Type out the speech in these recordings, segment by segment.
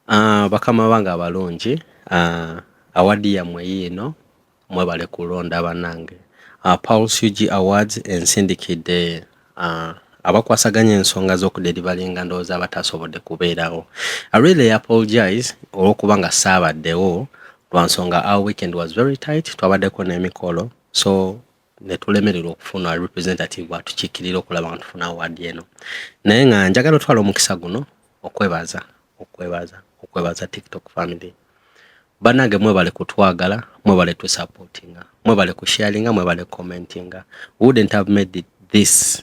Uh, bakama bange abalungi uh, ah, awadi yammwe yiino mwebale kulonda banange uh, ah, Pulse UG Awards ensindikidde uh, abakwasaganya ensonga z'okuderivalinga ndowooza abataasobodde kubeerawo I really apologize olw'okuba nga saabaddewo lwa nsonga our weekend was very tight twabaddeko n'emikolo so netulemererwa okufuna representative atukikirira okulaba nga tufuna awaadi eno naye nga njagala otwala omukisa guno okwebaza okwebaza okwebaza tiktok family banange mwebale kutwagala mwebale tusupportinga mwebale kusharinga mwebale commentinga wouldn't have made it this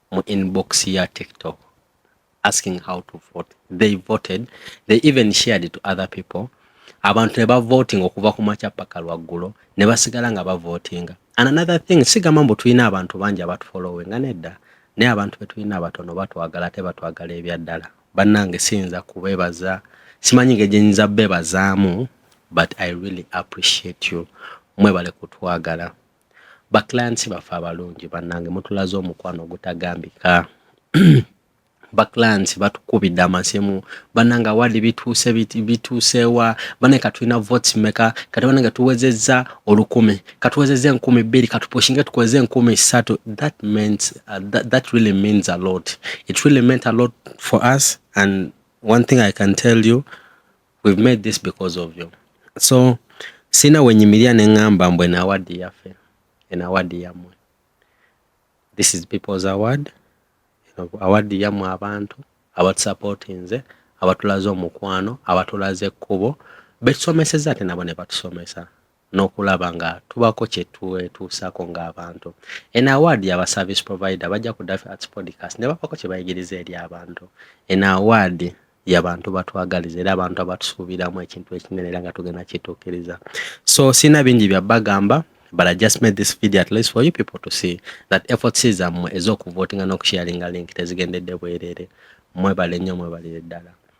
mu inbox ya tiktok asking how to vote they voted they even shared it to other people abantu ne bavotinga okuva ku makya paka lwaggulo ne basigala nga bavotinga and another thing sigamba mbu tulina abantu bangi abatufolowinga nedda naye abantu betulina abatono batwagala ate batwagala ebyaddala bannange siyinza kubebaza simanyi nge gyenyinza bebazaamu but i really appreciate you mwebale kutwagala ba clients baffe abalungi bannange mutulaze omukwano ogutagambika ba clients batukubidde amasimu bannange awadi bituuse bituusewa bane katulina votes meka kati bannange tuwezezza olukumi katuwezezza enkumi bbiri katupushinge tukozeza enkumi ssatu that means uh, that, that really means a lot it really meant a lot for us and one thing i can tell you we've made this because of you so sina wenyimirira ne ngamba mbu eno awadi yaffe eno awadi yammwe this is people's award awadi yammwe abantu abatusapootinze abatulaze omukwano abatulaze ekkubo betusomeseza ate nabo ne batusomesa n'okulaba nga tubako kyetwetuusako ng'abantu en award yaba service provider bajja ku Daffy Arts Podcast ne bapako kye bayigiriza eri abantu en award yabantu batwagaliza era abantu abatusuubiramu ekintu ekinene era nga tugenda kituukiriza so sina bingi bya bagamba but I just made this video at least for you people to see that efforts zammwe ez'okuvotinga n'okusharinga link tezigendedde bwerere mwebale nnyo mwebalire ddala